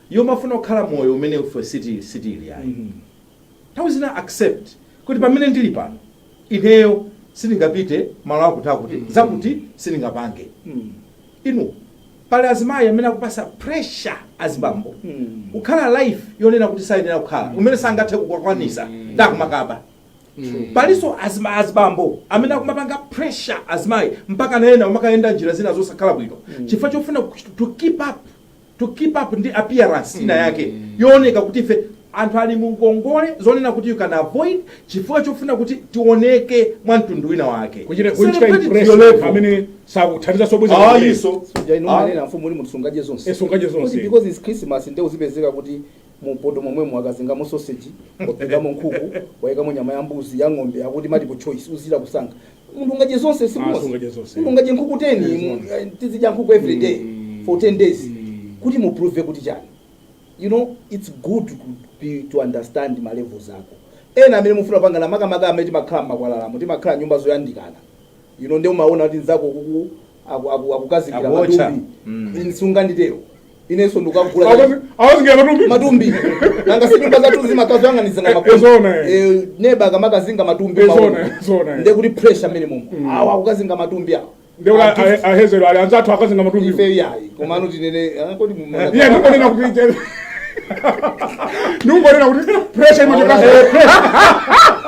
yomafuna kukhala moyo umene ife sitili, sitili ayi. Nthawi zina accept kuti pamene ndili pano ineyo sindingapite malo akuti akuti zakuti sindingapange. Inu pali azimayi amene akupatsa pressure azibambo kukhala life yonena kuti sayenera kukhala umene sangathe kukwakwanisa ndiye akumakaba. Palinso azima- azibambo amene akumapanga pressure azimayi mpaka nawonso kumakayenda njira zina zosakhala bwino chifukwa chofuna kuch- to keep up to keep up ndi appearance ina yake yooneka kuti ife anthu ali mu ngongole zonena kuti you can avoid chifukwa chofuna kuti tioneke mwa mtundu wina wake kuchita kuchita Celebrate to your impress level. amene sakuthandiza zobweza Ah, kumene. iso. Suja inu Ah. manena mfumu uli munthu sungadye zonse. Eh, sungadye zonse. Kuti because it's Christmas ndiye uzipezeka kuti mupoto momwemo wakazingamo sausage, wapikamo nkhuku, waikamo nyama ya mbuzi, ya ng'ombe, akuti multiple choice uzichita kusankha. munthu ungadye zonse Ah, simuzi sungadye zonse. munthu ungadye nkhuku 10 Yes, mu- ma'am. eh, tizidya nkhuku every day Mm. for 10 days Mm. kuti muprove kuti chani you know it's good to, be, to understand ma levels ako ena amene mufuna mpangana makamaka amene timakhala mmakwalalamu timakhala mnyumba zoyandikana you know ndiye umaona kuti nzako uku aku- aku- akukazingira Akuotcha. matumbi Mm. sunganditero inenso ndikagula Akazi- akazingira matumbi matumbi nanga sinyumba zathu zimakhala zoyang'anizana makomo. Ezona, eh. Eh, neba akamakazinga matumbi Ezona, maono. ezona, eh. ndiye kuti pressure imene mmomo awa akukazinga matumbi awa ndekuti Anthu- ahezero ali anzathu akazinga matumbi ife iyayi komano tinene ah, kodi mumuna- iye ndikunena kuti ndikunena kuti pressure imachokera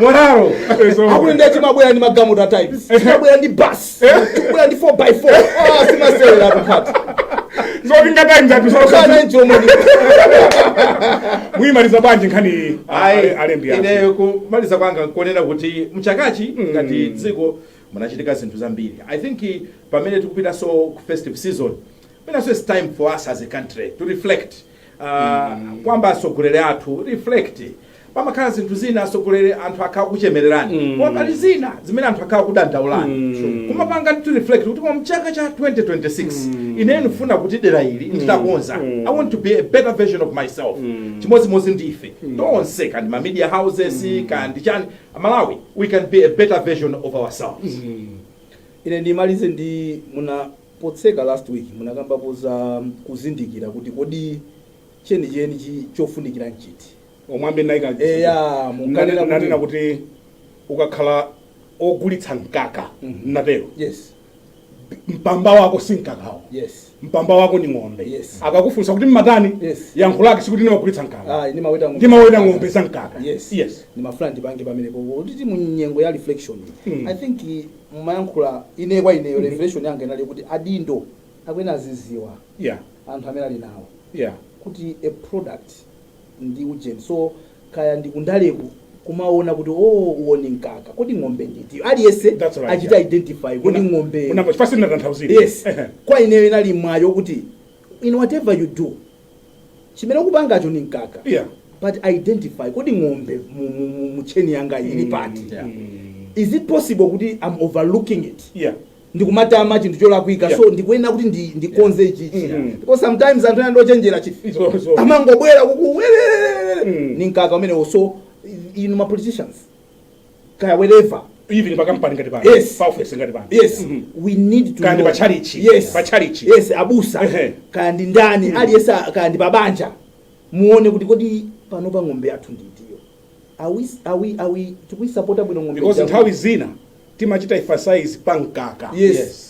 Monjaro akuti ndiye timabwera ndi magamuta times timabwera ndi bus tikubwera ndi 4x4 ah simasewera kukhati zoti ngatimes anthu sokana sokana njomoni muimaliza bwanji nkhani iyi Ayi, alembi yake ineyo kumaliza kwanga nkonena kuti mchakachi ngati dziko munachitika zinthu zambiri i think eh, pamene tikupitanso ku festive season penanso its time for us as a country to reflect Ah, kuyamba atsogoleri athu reflect pamakhala zinthu zina atsogoleri anthu akhala akukuchemererani koma pali zina zimene anthu akhala akukudandaulani kumapanga ndithu reflect kuti koma mchaka cha 2026 ine ndifuna kuti dera ili nditakonza i want to be a better version of myself chimodzimodzi ndi ife tonse kandi ma media houses kandi chani malawi we can be a better version of ourselves ine ndimalize ndi muna Potseka last week munakambapo za kuzindikira kuti kodi chenicheni chofunikira nchiti. Omwe amene naika chizungu. Eya munkanena kuti. Nanena kuti ukakhala ogulitsa mkaka mm -hmm. natero yes mpamba wako si mkakawo yes mpamba wako ni ng'ombe yes. akakufunsa kuti mmatani yes. yankho lake sikuti nimagulitsa mkaka ah, ndimaweta ng'ombe za mkaka yes. yes. ndimafuna ndipange pamenepo kuti mu nyengo ya reflection mm. i think mumayankhula ine kwa ineyo revelation yanga inali yokuti adindo akuyenera aziziwa yeah anthu amene ali nawo yeah kuti a product ndi ujeni so kaya ndi kundaleku kumaona kuti oo uwo ndi mkaka kodi ng'ombe ndi itiyo aliyese That's right, achita yeah. identify kodi Una- ng'ombe unamva chifukwa sindinatanthauzire yes kwa ineyo inali mwayo kuti in whatever you do chimene ukupangacho ndi mkaka Yeah. but identify kodi ng'ombe mu, mu, mu, mu chain yanga ili pati Yeah. is it possible kuti i'm overlooking it Yeah. ndikumatama chinthu cholakwika Yeah. so ndikuyenera kuti ndi- ndikonze ichi ichi Mm. because sometimes anthu ena ndochenjera chi So- so- amangobwera kukuwelelelele Mm. ni mkaka umenewo so inu ma politicians kaya wherever even pa company ngati pano Yes. pa office ngati pano yes Mhm. we need to Kaya ndi know. pa chalichi. yes Pa chalichi. yes abusa Ehe. kaya ndi ndani aliyense a- kaya ndi pabanja muone kuti kodi panopa ng'ombe yathu ndi itiyo are we are we are we tikuisapota bwino ng'ombe because ija? nthawi zina timachita emphasize pa mkaka Yes.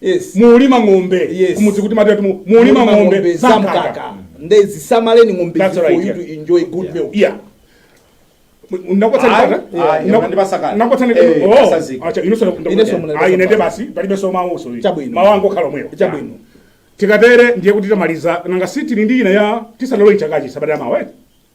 Yes. mulima ng'ombe Yes. kumudziku timati mu- mulima ng'ombe za mkaka nde zisamaleni ng'ombe That's for right, you yeah. to enjoy good milk yeah Ayi, ayi, unandipasa kale. Eh, pasazika. Ineso munandipasa ine nde kale. basi palibeso mawuso Chabwino. mawu angokhala omwewo Chabwino. tikatere ndiye kuti tamaliza nanga si tili ndi ina ya tisanalowe chakachi sabata mawa eh?